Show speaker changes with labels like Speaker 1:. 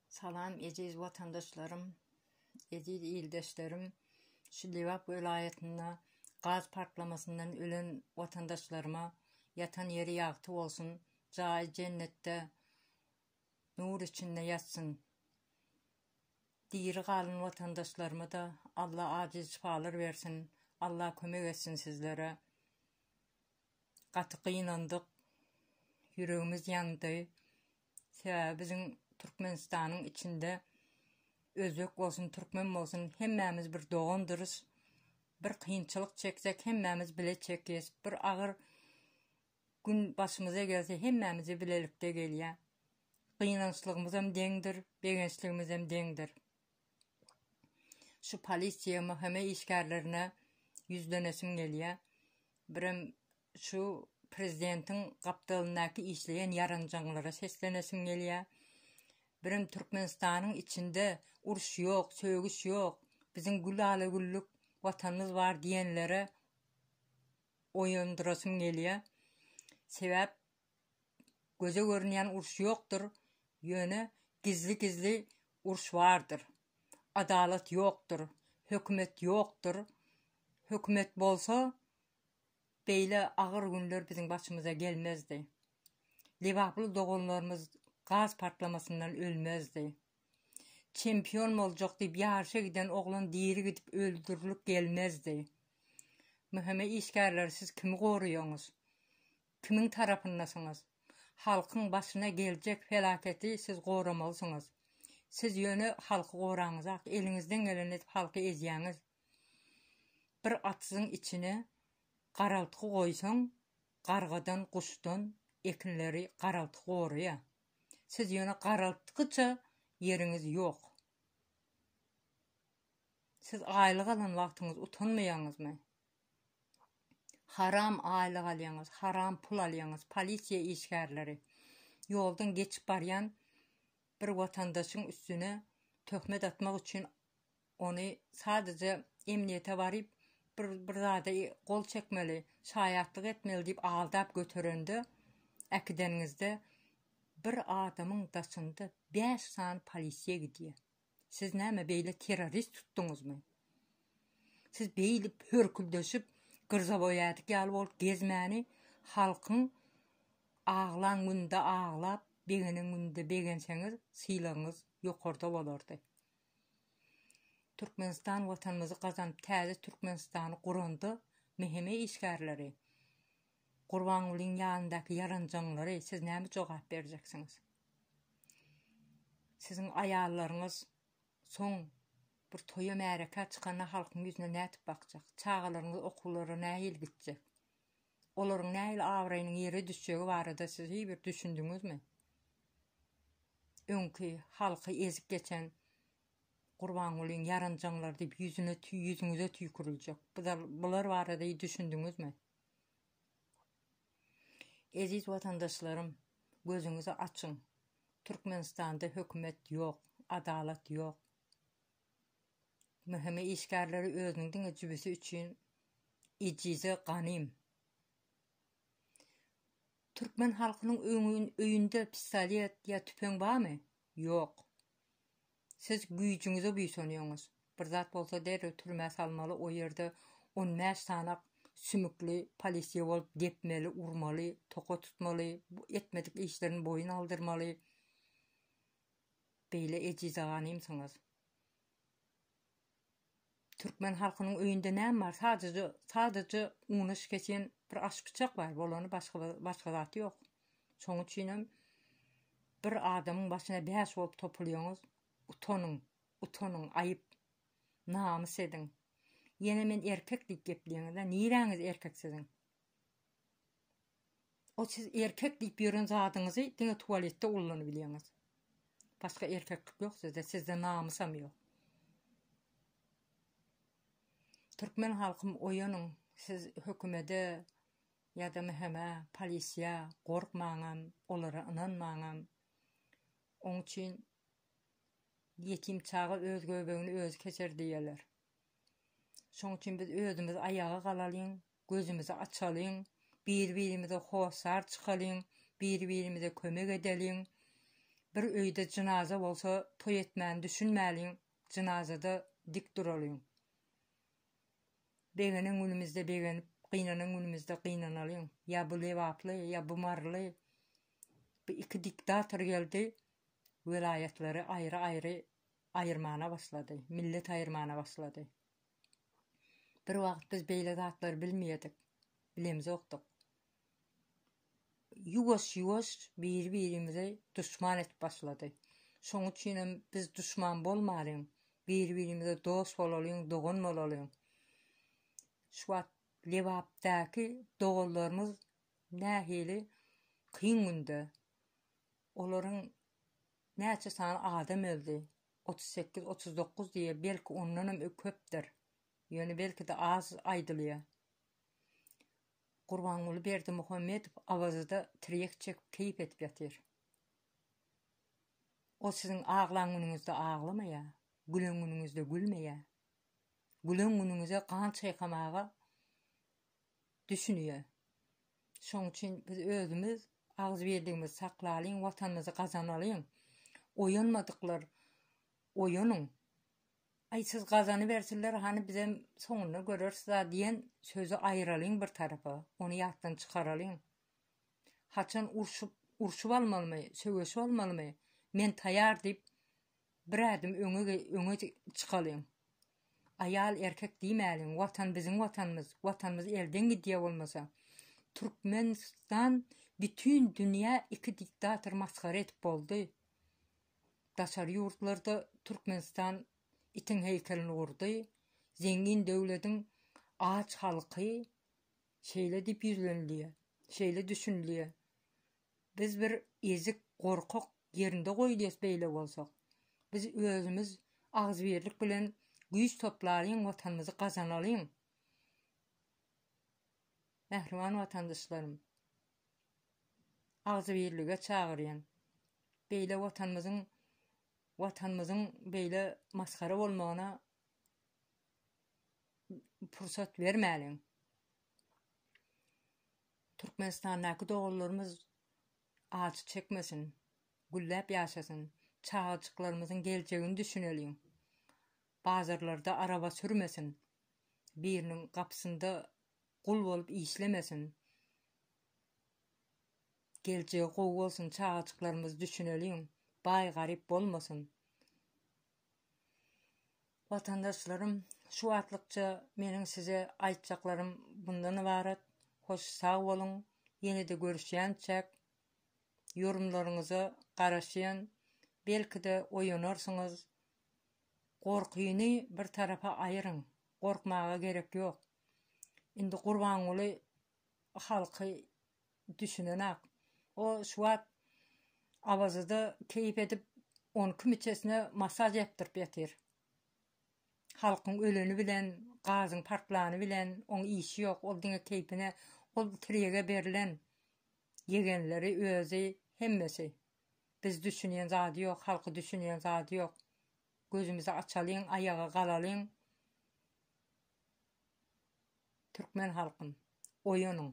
Speaker 1: Salam eziz watandaşlarym, eziz ildeşlerim, şu Lebap welaýatynda gaz partlamasyndan ölen watandaşlaryma ýatan ýeri ýagty bolsun, jaýy jennetde nur içinde ýatsyn. Diri galan watandaşlarymada Alla ajyl şypalar bersin, Alla kömek etsin sizlere. Gaty gynandyk, ýüregimiz ýandy. Sebäbi biziň Türkmenistanyň içinde özbek bolsun, türkmen bolsun hemmämiz bir dogandyrys. Bir kynçylyk çeksek hemmämiz bile çekýäs. Bir agyr gün başymyza gelse hemmämize bilelikde gelýär. Gynançlygymyzam deňdir, begençligimizem deňdir. Şu polisiýa MHM işgärlerine ýüzlenesim gelýär. Birem şu prezidentiň gapdalyndaky işleýän ýaranjaňlara seslenesim gelýär. Birem Türkmenistanyň içinde uruş ýok, sögüş ýok, biziň gül ala güllük watanymyz bar diýenlere oýandyrasym gelýär. Sebäp göze görünýän uruş ýokdur, ýöne gizli-gizli uruş bardyr. Adalat ýokdur, hökümet ýokdur. Hökümet bolsa, beýle agyr günler biziň başymyza gelmezdi. Lebaply doganlarymyz gaz partlamasyndan ölmezdi. Çempion boljak diýip ýaryşa giden oglan diri gidip öldürilip gelmezdi. MHM işgärleri siz kimi goraýaňyz? Kimiň tarapyndasyňyz? Halkyň başyna geljek felaketi siz goramalsyňyz. Siz ýöne halky goraňyzak, eliňizden geleni edip halky ezýäňiz. Bir atsyzyň içine garaltgy goýsaň, gargadan, guşdan ekinleri garaltgy goraýa. Siz ýöne garaltgyça ýeriňiz ýok. Siz aýlyk alan wagtyňyz utanmaýaňyzmy? Haram aýlyk alýaňyz haram pul alýaňyz polisiýa işgärleri ýoldan geçip barýan bir watandaşyň üstüne töhmet atmak üçin ony sadece emniýete baryp bir bir zada gol çekmeli şaýatlyk etmeli diýip aldap göterende äkideniňizde bir adamyň daşynda bäş sany polisiýa gidýär. Siz näme beýle terrorist tutduňyzmy? Siz beýle hörküldeşip, gyrzaboýadik ýaly bolup gezmäni halkyň aglan günde aglap, begenen günde begenseňiz, sylagyňyz ýokarda bolardy. Türkmenistan Watanymyzy gazanyp, täze Türkmenistany guranda meheme işgärleri Gurbangulyň ýanyndaky ýaranjaňlary siz näme jogap berjeksiňiz? Siziň aýallaryňyz soň bir toýa märekä çykanda halkyň ýüzüne nädip bakjak? Çagalaryňyz okuwlara nähili gitjek? Olaryň nähili abraýynyň ýere düşjegi barada siz hiý bir düşündiňizmi? Öňki halky ezip geçen Gurbangulyň ýaranjaňlary diýip ýüzüne tüý ýüzüňize tüýküriljek. Bular barada hiý düşündiňizmi? Eziz watandaşlarym gözüňizi açyň Türkmenistanda hökümet ýok adalat ýok mhme işgärleri özüniň diňe jübüsi üçin ejize ganym Türkmen halkynyň öýünde pistolet ýa tüpeň barmy ýok Siz güýjüňize buýsanýoňyz. Bir zat bolsa derrew türmä salmaly o ýerde on bäş sanak sümükli polisiýa bolup depmeli urmaly toka tutmaly etmedik işlerini boýun aldyrmaly beýle ejiz aganymsyňyz. Türkmen halkynyň öýünde näme bar? Sadaja, sadaja una şikeçen bir aşpyçak bar, bolany başga bir, başga zat ýok. Şoň üçinem bir adamyň başyna bäş bolup topulýoňyz, utanyň, utanyň, aýyp, namys ediň. Ýene men erkek diýip gepleýiňiz-ä, niräňiz erkek siziň? O siz erkek diýip ýören zadyňyzy diňe tuwaletde ullanybilýäňiz. Başga erkeklik ýok sizde, sizde namysam ýok. Türkmen halkym oýanyň, siz hökümede ýa-da MHM-a, polisýa gorkmaňam, olara ynanmaňam. Oň üçin ýetim çaga öz göbegini özi keser diýýäler. Şoň üçin biz özümiz aýaga galalyň, Gözümizi açalyň, bir-birimize hossar çykalyň, bir-birimize kömek edeliň. Bir öýde jynaza bolsa toý etmäni düşünmäliň, jynazada dik duralyň. Begenen günümizde begenip, gynanan günümizde gynanalyň. Ýa bu lebaply, ýa bu maryly. Bu iki diktator geldi, welaýatlary aýry-aýry aýyrmana başlady, millet aýyrmana başlady. Bir wagt biz beýle zatlary bilmeýärdik, bilemzokdyk. Ýuwaş-ýuwaş biri-birimizi duşman edip başlady. Şoň üçin hem biz duşman bolmalyň, biri-birimize dost bolalyň, dogan bolalyň. Şu wagt Lebapdaky doganlarymyz nähili kyn günde. Olaryň näçe sany adam öldi? Otuz sekiz, otuz dokuz diýýär, belki ondanam köpdür. Ýöne belki-de az aýdylýar. Gurbanguly Berdimuhamedow Awaza-da tirýek çekip keýp edip ýatyr. Ol siziň aglan günüňizde aglamaýar, gülen günüňizde gülmeýär. Gülen günüňize gan çaýkamaga düşünýär. Şoň üçin biz özümiz agzybirligimizi saklalyň, Watanymyzy gazanalyň. Oýanmadyklar oýanyň. Aý siz gazanybersinler, hany bizem soňunda göreris-la diýen sözi aýyralyň bir tarapa, ony ýatdan çykaralyň. Haçan urşup, urşup almalymy, söweşip almalymy, men taýar diýip, bir ädim öňe öňe çykalyň. Aýal erkek diýmäliň watan biziň watanymyz watanymyz elden gidýä bolmasa Türkmenistan bütün dünýä iki diktator masgara edip boldy daşary ýurtlarda Türkmenistan itiň heýkelini gurdy zengin döwlediň aç halky şeýle diýip ýüzlenilýä şeýle düşünilýä Biz bir ezik gorkak ýerinde goýlyas beýle bolsak. Biz özümiz agzybirlik bilen güýç toplalyň watanymyzy gazanalyň. Mähriban watandaşlarym. Agzybirlige çagyrýan. Beýle watanymyzyň watanymyzyň beýle masgara bolmagyna pursat bermäliň. Türkmenistandaky doganlarymyz acy çekmesin, gülläp ýaşasyn, çagajyklarymyzyň geljegini düşüneliň. Bazarlarda araba sürmesin, biriniň gapysynda gul bolup işlemesin. Geljegi gowy bolsun çagajyklarymyz düşüneliň, baý garyp bolmasyn. Watandaşlarym şu watlykça meniň size aýtjaklarym bundan ybarat hoş sag boluň ýenede görüşýänçäk ýorumlaryňyza garaşýan belkide oýanarsyňyz gorkyny bir tarapa aýyryň gorkmaga gerek ýok indi gurbanguly halky Düşünenak. O şu wagt Awazuda keýp edip on iki müçesine masaž ýapdyryp ýatyr. Halkyň öleni bilen, gazyň partlany bilen oň işi ýok. Ol diňe keýpine. Ol tirýege berlen. Ýegenleri özi hemmesi. Biz düşünýen zady ýok, halky düşünýen zady ýok. Gözümizi açalyň, aýaga galalyň. Türkmen halkym, oýanyň!